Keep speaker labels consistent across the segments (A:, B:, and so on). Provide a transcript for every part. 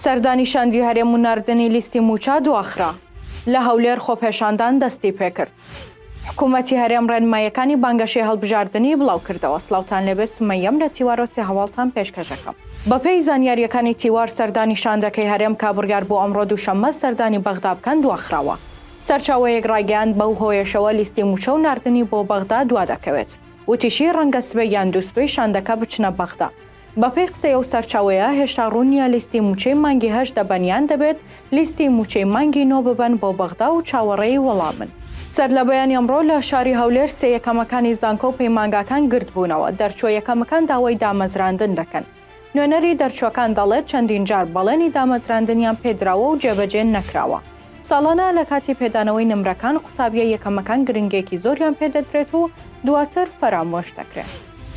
A: سەردانی شاندی هەرێم و نردنی لیستی موچە دواخرا لە هەولێر خۆپێشاندان دەستی پێکرد. حکوومەتی هەرێم ڕێنمایەکانی بانگەشەی هەڵبژاردننی بڵاو کردەوە سلااوان لەبێ سمەەم لە تیوارۆسی هەواڵتان پێشکەشەکەم. بەپێی زانیاریەکانی تیوار سەردانی شاندەکەی هەرێم کا بڕیار بۆ ئەمڕۆ دووشەممە سەردانی بەغدا بکەن دواخراوە. سەرچاوەیەک ڕایگەیاند بەو هۆیەشەوە لیستی مووچە و ناردنی بۆ بەغدا دوا دەکەوێت، وتیشی ڕەنگە سبەی یان دوو سبەی شاندەکە بچنە بەغدا. بەپێی قسەی ئەو سەرچاوەیە، هێشتا ڕوون نییە لیستی مووچەی مانگی هەشت دەبەن یان دەبێت لیستی مووچەی مانگی نۆ ببەن بۆ بەغدا و چاوەڕێی وەڵامن. سەرلەبەیانی ئەمڕۆ لە شاری هەولێر سێ یەکەمەکانی زانکۆ و پەیمانگاکان گردبوونەوە، دەرچووە یەکەمەکان داوای دامەزراندن دەکەن. نوێنەری دەرچووەکان دەڵێت، چەندین جار بەڵێنی دامەزراندنیان پێدراوە و جێبەجێ نەکراوە. ساڵانە لە کاتی پێدانەوەی نمرەکان قوتابییە یەکەمەکان گرنگێکی زۆریان پێدەدرێت و دواتر فەرامۆش دەکرێن.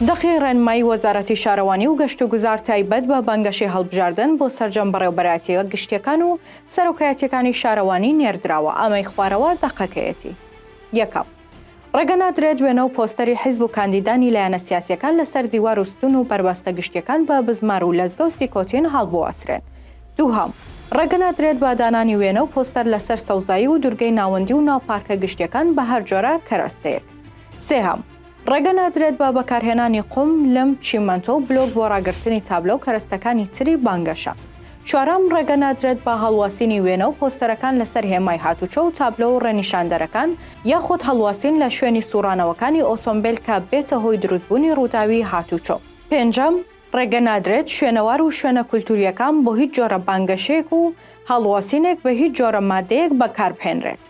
A: دەقی ڕێنمایی وەزارەتی شارەوانی و گەشتوگوزار تایبەت بە بانگەشەی هەڵبژاردن بۆ سەرجەم بەڕێوەبەرایەتییە گشتییەکان و سەرۆکایەتییەکانی شارەوانی نێردراوە، ئامێی خوارەوە دەقەکەیەتی. یەکەم. ڕێگە نادرێت وێنە و پۆستەری حیزب و کاندیدانی لایەنە سیاسیەکان لە سەر دیوار و ستون و بەربەستە گشتیەکان بە بزمار و لەزگە و سیکۆتین هەڵبواسرێن. دووهەم، ڕێگە نادرێت بە دانانی وێنە و پۆستەر لە سەر سەوزایی و دورگەی ناوەندی و ناو پارکە گشتیەکان بە هەر جۆرە کەرەستەیەک. سێهەم، ڕێگە نادرێت بە بەکارهێنانی قوم، لم، چیمەنتۆ و بلۆک بۆ ڕاگرتنی تابلۆ و کەرەستەکانی تری بانگەشە. چوارەم، ڕێگە نادرێت بە هەڵواسینی وێنە و پۆستەرەکان لەسەر هێمای هاتوچۆ و تابلۆ و ڕێنیشاندەرەکان، یاخود هەڵواسین لە شوێنی سوڕانەوەکانی ئۆتۆمبێل کە بێتە هۆی دروستبوونی ڕووداوی هاتوچۆ. پێنجەم، ڕێگە نادرێت شوێنەوار و شوێنە کولتوورییەکان بۆ هیچ جۆرە بانگەشەیەک و هەڵواسینێک بە هیچ جۆرە مادەیەک بەکاربهێنرێت.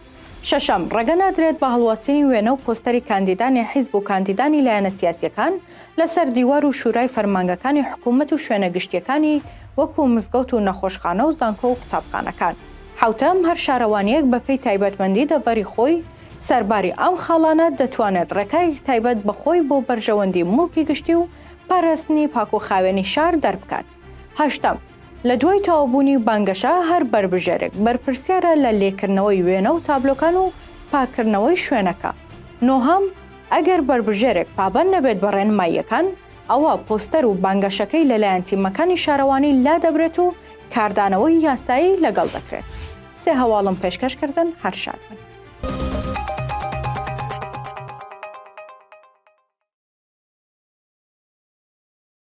A: شەشەم، ڕێگە نادرێت بە هەڵواسینی وێنە و پۆستەری کاندیدانی حیزب و کاندیدانی لایەنە سیاسیەکان لە سەر دیوار و شورای فەرمانگەکانی حکوومەت و شوێنە گشتیەکانی وەکوو مزگەوت و نەخۆشخانە و زانکۆ و قوتابخانەکان. حەوتەم، هەر شارەوانیەک بە پێی تایبەتمەندی دەڤەری خۆی سەرباری ئەم خاڵانە دەتوانێت ڕێکارێکی تایبەت بە خۆی بۆ بەرژەوەندی موڵکی گشتی و پاراستنی پاکوخاوێنی شار دەربکات. هەشتەم، لە دوای تەواوبوونی بانگەشە، هەر بەربژێرێک بەرپرسیارە لە لێکردنەوەی وێنە و تابلۆکان و پاککردنەوەی شوێنەکە. نۆهەم، ئەگەر بەربژێرێک پابەند نەبێت بە ڕێنماییەکان، ئەوا پۆستەر و بانگەشەکەی لەلایەن تیمەکانی شارەوانی لادەبرێت و کاردانەوەی یاسایی لەگەڵ دەکرێت. سێ هەواڵم پێشکەش کردن، هەر شاد بن.